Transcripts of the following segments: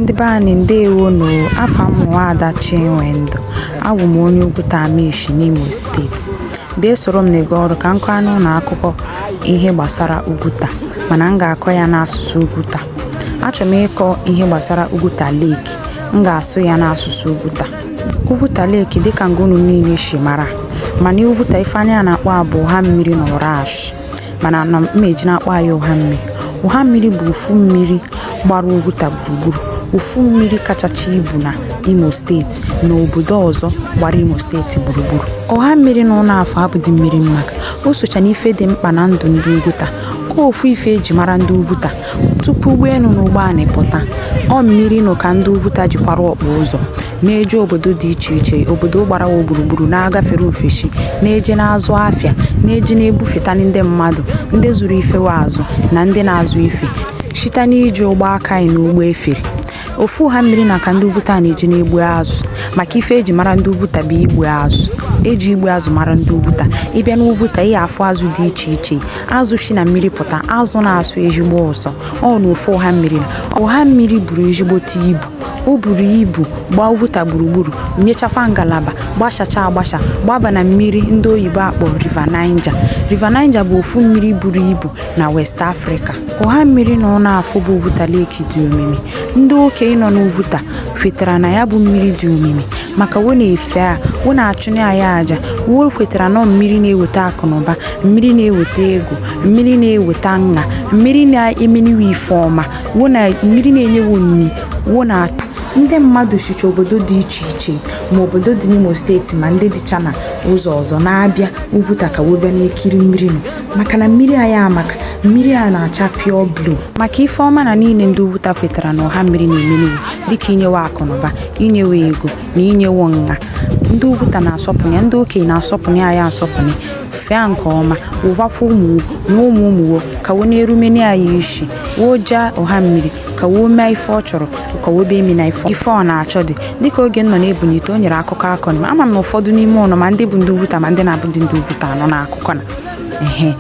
Ndị be anyị ndewo nụ o. Afa m bụ Nwaada Chinwendụ. Abụ m onye Ugwuta Amaeshi n'Imo steeti. Bịa soro m na-ege ọrụ ka m kọọnụ ụnụ akụkọ ihe gbasara Ugwuta mana m ga-akọ ya n'asụsụ Ugwuta. Achọrọ m ịkọ ihe gbasara Ugwuta Lake. M ga-asụ ya n'asụsụ Ugwuta. Ugwuta Lake dịka nga unu niile si mara mana Ugwuta ife anyị a na-akpọ a bụ ụha mmiri na Ụrashị. mana ana m eji na-akpọ ya ụha mmiri ụha mmiri bụ ofu mmiri gbara Ugwuta gburugburu ofu mmiri kachacha ibu na Imo steeti na obodo ọzọ gbara Imo steeti gburugburu ụha mmiri na ụnụ afụ abụdị mmiri mmaka o socha n'ife dị mkpa na ndụ ndị Ugwuta ofu ife e ji mara ndị Ugwuta Tupu ụgbọelu na ụgbọanị pụta, ọ mmiri nụ ka ndị Ugwuta ji kwara ọkpụ ụzọ, na-eje obodo dị iche iche, obodo gbara wa gburugburu, na-agafere ofesi, na-eje na-azụ afịa, na-eje na-ebufetali ndị mmadụ, ndị zụrụ ife wa azụ na ndị na-azụ ife, site n'iji ụgbọ aka na ụgbọ efere. Ofu ụha mmiri na ka ndị Ugwuta na-eji na-egbu azụ, maka ife e ji mara ndị Ugwuta bụ igbu azụ. E ji igbu azụ mara ndị Ugwuta. Ị bịa n'Ugwuta, ị ga-afụ azụ dị iche iche. azụ si na mmiri pụta azụ na-asọ ezigbo ụsọ ọ na ofu ụha mmiri na ụha mmiri buru ezigbote ibu o buru ibu gbaa ugwuta gburugburu nyechakwa ngalaba gbashacha agbasha gbaba na mmiri ndị oyibo akpọ river niger river niger bụ ofu mmiri buru ibu na west africa ụha mmiri na ụnụ afụ bụ ugwuta lake dị omimi ndị okenye nọ n'ugwuta kwetara na ya bụ mmiri dị omimi maka wo na-efe a wo na-achụnye ya aja wo kwetara na ọ mmiri na-eweta akụ na ụba mmiri na-eweta ego mmiri na-eweta nwa mmiri na-emeni wo ife ọma mmiri na-enye wo nni wo na ndị mmadụ sicha obodo dị iche iche ma obodo dị n'Imo steeti ma ndị dịcha na ụzọ ọzọ na-abịa Ugwuta ka wo bịa na-ekiri mmiri nụ maka na mmiri anyị amaka mmiri a na-acha pure blue maka ife ọma na niile ndị Ugwuta kwetara na ụha mmiri na-emeni wo dịka inye wo akụnụba inye wo ego na inye wo nwa ndị ugwuta na-asọpụrụ ya ndị okenye na-asọpụrụ ya asọpụrụ fee a nke ọma wo gwakwa ụmụ na ụmụ ụmụ wo ka wo na-erumeni ya isi woo jaa ụha mmiri ka woo mee ife ọ chọrọ ka woo bee emena ife ife ọ na-achọdị dịka oge m nọ na-ebunite o nyere akụkọ a kọnị ama m na ụfọdụ n'ime ụnụ ma ndị bụ ndị ugwuta ma ndị na-abụdị ndị ugwuta anụna akụkọ na ehe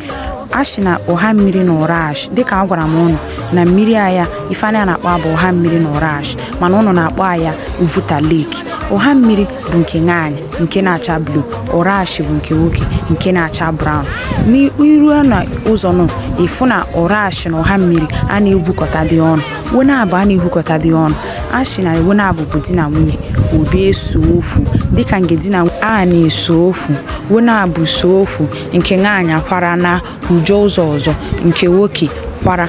a shị na ụha mmiri na ụrashị dịka agwara m ụnụ na mmiri aya ife anyị na-akpọ a bụ ụha mmiri na ụrashị mana ụnụ na-akpọ aya Ugwuta Lake. Ụha mmiri bụ nke nwaanyị nke na-acha blue, Ụrashị bụ nke nwoke nke na-acha brown. N'i rue na ụzọ nụ ị fụ na Ụrashị na ụha mmiri a na-egwukọtadị ọnụ. Wo naabọ a na-egwukọtadị ọnụ. A shị na wo naabọ bụ di na nwunye, wo bịa eso okwu dịka nke di na a na-eso okwu, wo naabọ so okwu nke nwaanyị akwara na ujo ụzọ ọzọ nke nwoke kwara.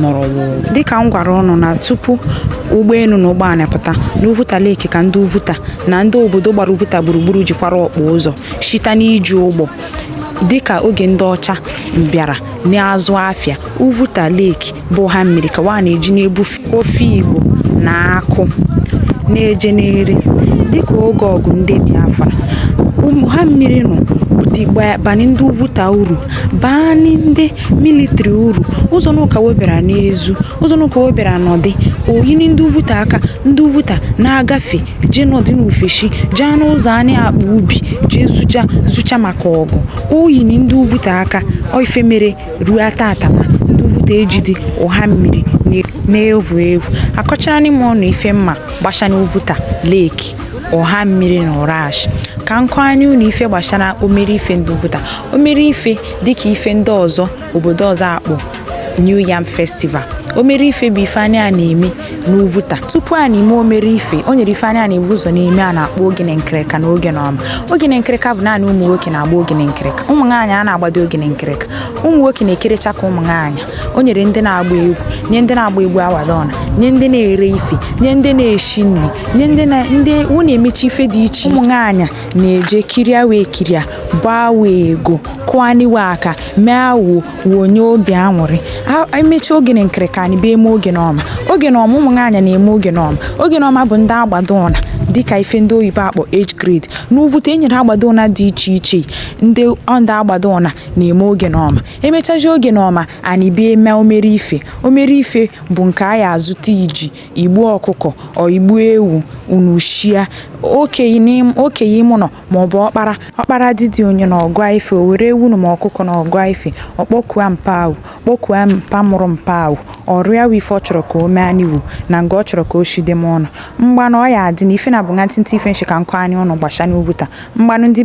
nọrọ wụrụ dịka m gwara ụnụ na tupu ụgbọelu na ụgbọala pụta na Ugwuta Lake ka ndị Ugwuta na ndị obodo gbara Ugwuta gburugburu jikwara okpo ụzọ shite n'iji ụgbọ dịka oge ndị ọcha bịara na-azụ afịa Ugwuta Lake bụ Ụhammiri ka wa na-eji na-ebufe ofigbo na akụ na-eje n'eri dịka oge ọgụ ndị Biafra Ụhammiri nọ bani ndị Ugwuta uru bani ndị military uru ụzọ n'ụka webara n'ezu ụzọ n'ụka webara n'ọdị o yini ndị ugwuta aka ndị ugwuta na-agafe jee n'ọdị n'ofeshi jee n'ụzọ anyị akpọ ubi jee zocha zocha maka ọgụ o yini ndị ugwuta aka ọ ife mere ruo taata na ndị ugwuta ejidi Ụhammiri na-egwu egwu akọcharanị m ụnụ ife m ma gbashanị Ugwuta Lake Ụhammiri na Ụrashị ka m kọanị unu ife gbasara omere ife ndị ugwuta omere ife dịka ife ndị ọzọ obodo ọzọ akpọ New Yam Festival omere ife bụ ife anyị na-eme n'Ugwuta tupu a na-eme omere ife o nyere ife anyị na-ebu ụzọ na-eme a na-akpọ ogene nkịrịka na ogene ọma ogene nkịrịka bụ naanị ụmụ nwoke na-agba ogene nkịrịka ụmụ nwaanyị a na-agbadị ogene nkịrịka ụmụ nwoke na-ekerecha ka ụmụ nwaanyị o nyere ndị na-agba egwu nye ndị na-agba egwu awadona nye ndị na-ere ife nye ndị na-eshi nri nye ndị na ndị ọ na-emechi ife dị iche ụmụ nwaanyị na-eje kiria wee kiria gbaa wa ego kụani we aka mee awuo wuo nye obi anwụrị emechi ogene nkịrịka anyị bịa eme ogene ọma ogene ọma ụmụ nwaanyị na-eme ogene ọma ogene ọma bụ ndị agbado ụna dịka ife ndị oyibo akpọ age grade n'Ugwuta e nyere agbado ụna dị iche iche ndị ndị agbado ụna na-eme ogene ọma emechazi ogene ọma anyị bịa eme omere ife omere ife bụ nke a ya azụta iji igbu ọkụkọ ọ igbu ewu unu shia okenye ime ụlọ maọbụ ọkpara ọkpara didi onye na-agọ ife o were ewu ma ọkụkọ na-agọ ife ọ kpọkua mpa a kpọkua mpa mụrụ mpa a ọ rịa wo ife ọ chọrọ ka o meani wo na nga ọ chọrọ ka o shide m ọnụ mgbanụ ọ ya adị na ife na bụ nwa ntịntị ife m shị ka m kọanị ụnụ gbashanị Ugwuta mgbanụ ndị